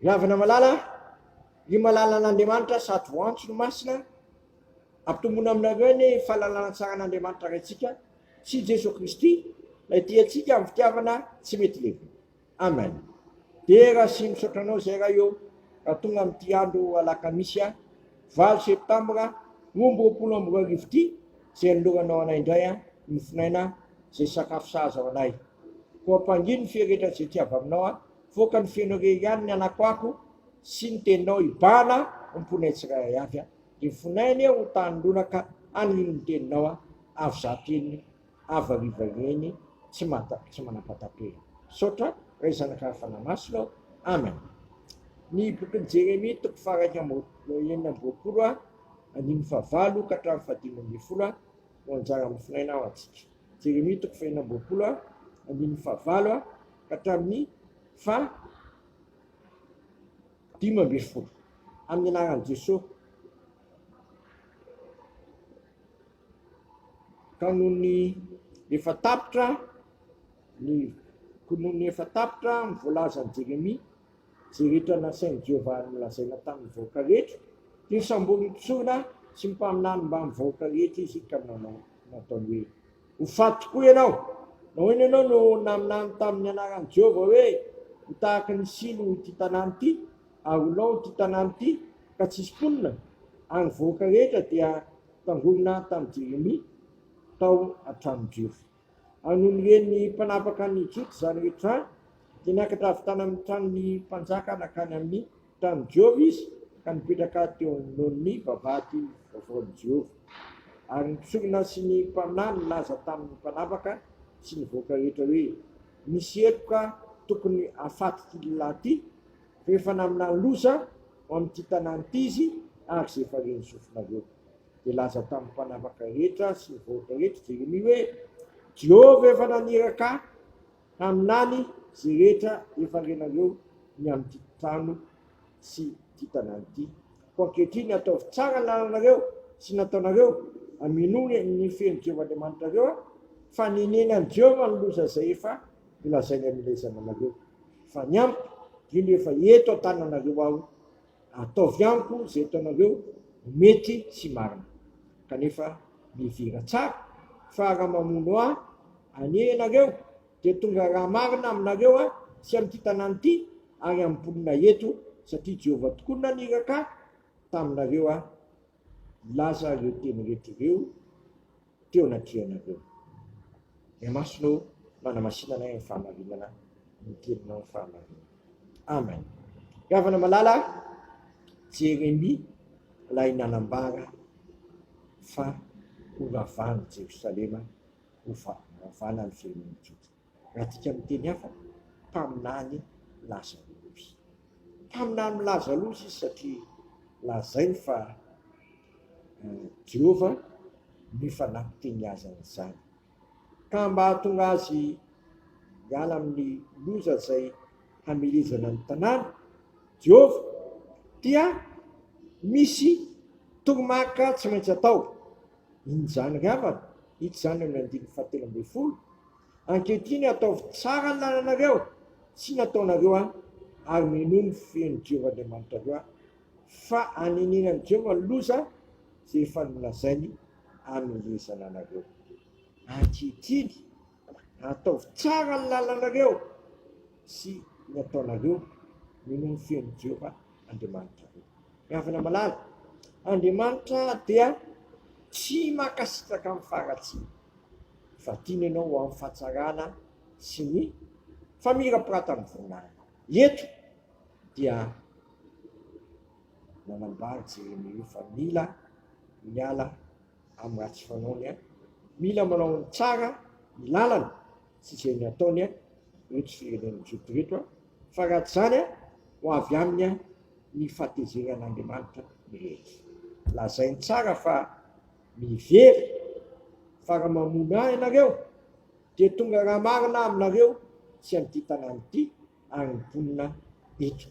Ravina malala, ry malalan'Andriamanitra sady ho antso ny masina, ampitomboina aminareo anie io fahalalana tsaran'Andriamanitra Raintsika sy Jesoa Kristy Ilay tia antsika amin'ny fitiavana tsy mety levona. Amen. Dera sy misaotra anao izay Ray ô, raha tonga amin'ity andro alakamisy a, valo septambra roa amby roapolo amby roa arivo ity izay anoloranao anay indray a, nofonaina, izay sakafo sahaza ho anay. Koa ampangino ny feo rehetra izay tsy avy aminao aho, voaka ny feonao irery ihany ny anakoako sy ny teninao hibahana ho mponay tsirairay avy aho. Dia fonay anie ho tanin'olona-ka hanirian'ny teninao aho, avy izaho teniny, avy hariva ireny tsy tsy manam-pahataperana. Misaotra, Ray Zanak'Ary Fanahy Masina ô! Amen. Ny bokin'i Jeremia, toko faha-iraika amby roapolo, enina amby roapolo, andininy fahavalo ka hatramin'ny fahadimy ambin'ny folo. no anjara mifinaina ao antsika. Jeremia toko fahenina amby roapolo andininy fahavalo ka hatramin'ny faha dimy ambin'ny folo. Amin'ny anaran'i Jesoa. Ka noho ny efa tapitra ny kononia efa tapitra ny voalazan'i Jeremia Izay rehetra nasain'i Jehovah nolazaina tamin'ny vahoaka rehetra, dia samborin'ny mpisorona sy ny mpaminany mbamin'ny vahoaka rehetra izy, ka nanao. Nataony hoe, Ho faty tokoa ianao! Nahoana ianao no naminany tamin'ny anaran'i Jehovah hoe, Ho tahaka ny silo ity tanàna ity, ary ho lao ity tanàna ity, ka tsy hisy mponina? Ary ny vahoaka rehetra dia tangorona tamin'i Jeremia tao an-tranon-drefa. An'Olonien'ny mpanapaka an'i Ejipta izany rehetra izany, dia niakatra avy tany amin'ny tranon'ny mpanjaka nankany amin'ny tanin'i Jehovah izy, ka nipetraka teo anoloan'ny vavahady vaovaon'i Jehovah. Ary ny mpisorona sy ny mpaminany nilaza tamin'ny mpanapaka sy ny vahoaka rehetra hoe, Misy heloka tokony hahafaty ity lehilahy ity, fa efa naminany loza ho amin'ity tanàna ity izy, ary izay efa ren'ny sofinareo. Dia laza tamin'ny mpanapaka rehetra sy ny vahoaka rehetra Jeremia hoe, Jehovah efa naniraka ahy haminany izay rehetra efa renareo ny amin'ity trano sy ity tanàna ity. Koa ankehitriny, ataovy tsara ny lalanareo sy ny ataonareo, amenoy ny feon'i Jehovah Andriamanitrareo, fa nenenan'i Jehovah ny loza izay efa nolazainy amin'ilay zananareo. Efa niampy, indrindra efa eto an-tananareo aho. Ataovy amiko izay ataonareo ho mety sy marina. Kanefa mihevera tsara fa raha mamono ahy anie ianareo, dia tonga ra marina aminareo aho sy amin'ity tanàna ity ary amin'ny mponina eto, satria Jehovah tokoa no naniraka ahy taminareo aho. Milaza ireo teny rehetra ireo teo anatrehanareo. Ny masonao manamasina anay amin'ny fahamarinana ny teninao ny fahamarinana. Amen. Ravana malala Jeremia ilay nanambara fa ho ravana Jerosalema ho ravana ny firenen'ny Joda. Adika amin'ny teny hafa, mpaminany lazalohy. Mpaminany milaza loza izy satria lazainy fa Jehovah no efa nampiteny azy an'izany. Ka mba hahatonga azy hiala amin'ny loza izay hamelezana ny tanàna, Jehovah, dia misy toromariky tsy maintsy atao. Inona izany ry havana? Hita izany amin'ny andininy fahatelo ambin'ny folo, Ankehitriny ataovy tsara ny lalànareo sy ny ataonareo aho, ary minoa ny feon'i Jehovah Andriamanitrareo aho, fa hanenenan'i Jehovah ny loza izay efa nolazainy hanomezana anareo ankehitriny. Ataovy tsara ny lalanareo sy ny ataonareo, minoa ny feon'i Jehovah Andriamanitrareo. Ry havana malala, Andriamanitra dia tsy mankasitraka amin'ny faharatsiana, fa tiany ianao ho amin'ny fahatsarana sy ny famirapiratan'ny voninahiny. Eto dia nanambara Jeremia hoe fa mila miala amin'ny ratsy fanaony an! Mila manao ny tsara ny lalana sy izay ny ataony an! Ireto firenena joto ireto an! Fa raha tsy izany an! Ho avy aminy an! Ny fahatezeran'Andriamanitra mirehitra. Lazainy tsara fa mivery fa raha mamono ahy ianareo dia tonga raha marina aminareo sy an'ity tanàna ity hanim-ponina eto,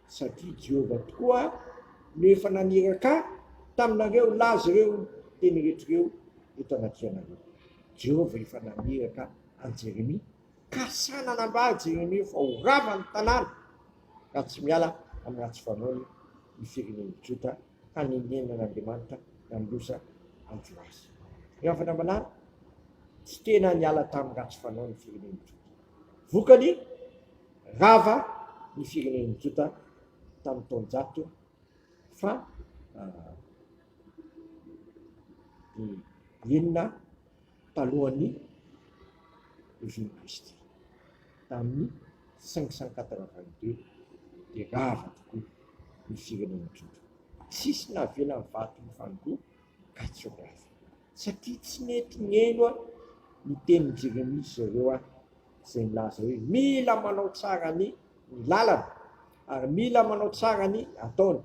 satria Jehovah tokoa no efa naniraka ahy taminareo hilaza ireo teny rehetra ireo eto anatrehanareo. Jehovah efa naniraka an'i Jeremia, ka sahy nanambara i Jeremia fa ho rava ny tanàna raha tsy miala amin'ny ratsy fanaony ny firenen'ny Joda hanenenan'Andriamanitra ny amin'ny loza an'i Joasy. Ry havana malala, tsy tena niala tamin'ny ratsy fanaony ny firenen'ny Joda. Vokany, rava ny firenen'ny Jota tamin'ny taonjato faha enina talohan'ny Régime Kristy, tamin'ny cinq cent quatre-vingt-deux dia rava tokoa ny firenen'ny Jota, tsisy navelan'ny vato mifandoa ka tsy ho rava. Satria tsy mety ny heno an ny tenin'i Jeremia sy ireo an izay milaza hoe mila manao tsara ny ny lalana ary mila manao tsara ny ataony,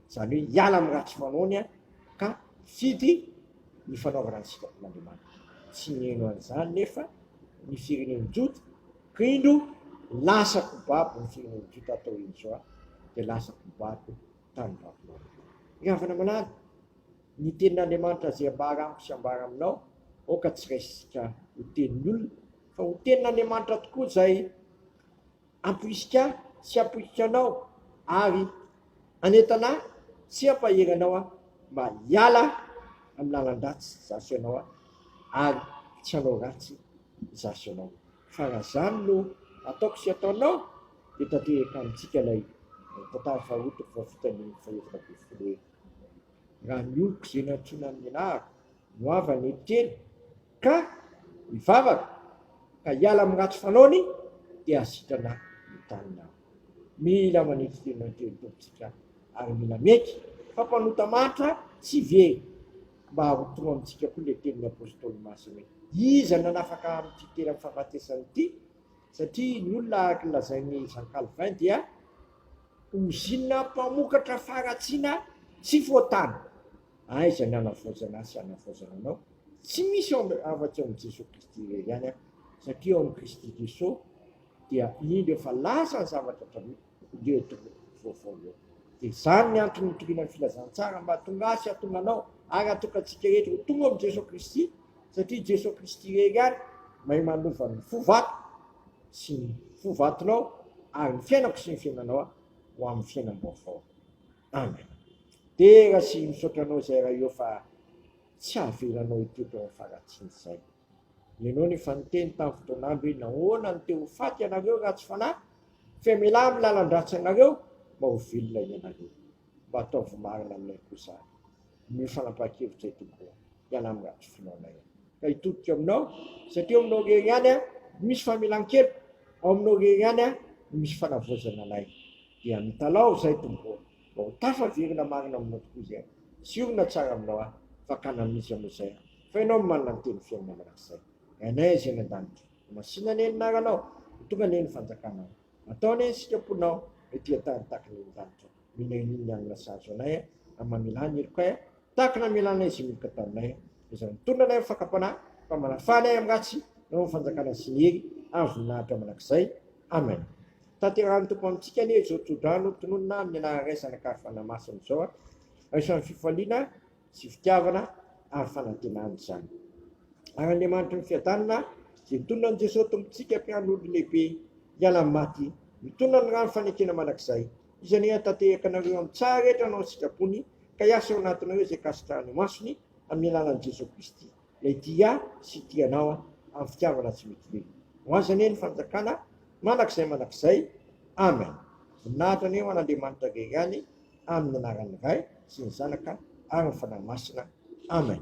izany hoe hiala amin'ny ratsy fanaony an ka hifidy ny fanaovana ny sitrapon'Andriamanitra. Tsy niheno an'izany nefa ny firenen'i Jota ka indro lasa kobabo ny firenen'i Jota hatao injao dia lasa kobabo tany Babylona. Ry havana malala, Ny tenin'Andriamanitra izay ambara amiko sy ambara aminao, aoka tsy raisika ho tenin'ny olona, fa ho tenin'Andriamanitra tokoa izay amporisika ahy sy apoiky anao ary anentana ahy sy ampahery anao aho mba hiala amin'ny lalan-dratsy izaho sy ianao ary tsy hanao ratsy izaho sy ianao. Fa raha izany no ataoko sy ataonao, dia tanteraka amintsika ilay tantara faharoa toko fahavitany fahaefatra ambin'ny folo hoe. raha ny oloko izay nantsoina amin'ny anarako no havany eto kely ka hivavaka ka hiala amin'ny ratsy fanaony dia hasitrana ny taniny aho. Mila manitsy tena ny Tompontsika ary mila miaiky fa mpanota mantra tsy ve? Mba arotomo amintsika koa ilay tenin'ny Apostoly Masina hoe, Iza no nanafaka ahy amin'ity tena fahafatesana ity? Satria ny olona araka ny lazain'i Jean Calvin dia. Ozinina mpamokatra faharatsiana tsy foatany. Aiza ny hanavaozana ahy sy hanavaozana anao? Tsy misy ao amin afa tsy ao amin'i Jesoa Kristy irery ihany aho, satria ao amin'i Kristy Jesoa dia indro efa lasa ny zavatra taloha, indreo eto vaovao eo. Dia izany ny antony nitoriana ny filazantsara mba hahatonga ahy sy hahatonga anao ary hahatonga antsika rehetra ho tonga ao amin'i Jesoa Kristy, satria Jesoa Kristy irery ihany mahay manova ny fo vato sy ny ho vatonao ary ny fiainako sy ny fiainanao ho amin'ny fiainam-baovao. Amen. Dera sy misaotra anao izay Ray ô fa tsy avelanao hitoetra ao amin'ny faharatsiana izay. Ianao nefa niteny tamin'ny fotoan'andro hoe nahoana no te-ho faty ianareo ratsy fanahy? Fa iamelaha amin'ny lalan-dratsanareo mba ho velona ianareo. Mba ataovy marina aminay koa izany. Omeo fanapahan-kevitra io Tompo ô. Ialà amin'ny ratsy finoanay aho. Ka hitodika ao Aminao, satria ao Aminao irery ihany no misy famelan-keloka, ao Aminao irery ihany no misy fanavaozana anay. Dia mitalaho izay Tompo ô, mba ho tafaverina marina Aminao tokoa izay. Siorina tsara Aminao aho, fakana amin'Izy Ianao izay aho, fa Ianao no manana ny Teny fiainana mandrakizay. Rainay izay any an-danitra, ho masina anie ny Anaranao, ho tonga anie ny Fanjakanao. Ataony an isika mponao ry tia tany takina iny lanitra mena iny ny alina sahazo anay an am mamelà ny herokay an takina amelà anay izay milika taminay an izay nitondra anay am fakampanahy fa manafà anay am ratsy nanao ny fanjakana sy ny hery ary voninahitra manakizay amen tanterahany tompo amintsika anie izao tsodrano tononina ny anara ray zanaka ary fanahy masina izao an isan'ny fifaliana sy fitiavana ary fanantenana izany. Ary Andriamanitry ny fiadanana, izay nitonona an'i Jesoa Tompontsika Mpian'olo Lehibe hiala amin'ny maty, mitonona ny rano fanekena mandrakizay, izay ny hanatanteraka anareo amin'ny tsara rehetra anao an-tsitrapony, ka hiasa ao anatinareo izay kasitrahan'ny masony, amin'ny alalan'i Jesoa Kristy. Ilay tia sy tia anao an! Amin'ny fitiavana tsy mitovy. Ho Azy anie ny fanjakana mandrakizay mandrakizay. Amen! Voninahitra anie ho an'Andriamanitra Irery any amin'ny anaran'ny Ray sy ny Zanaka ary ny Fanahy Masina. Amen!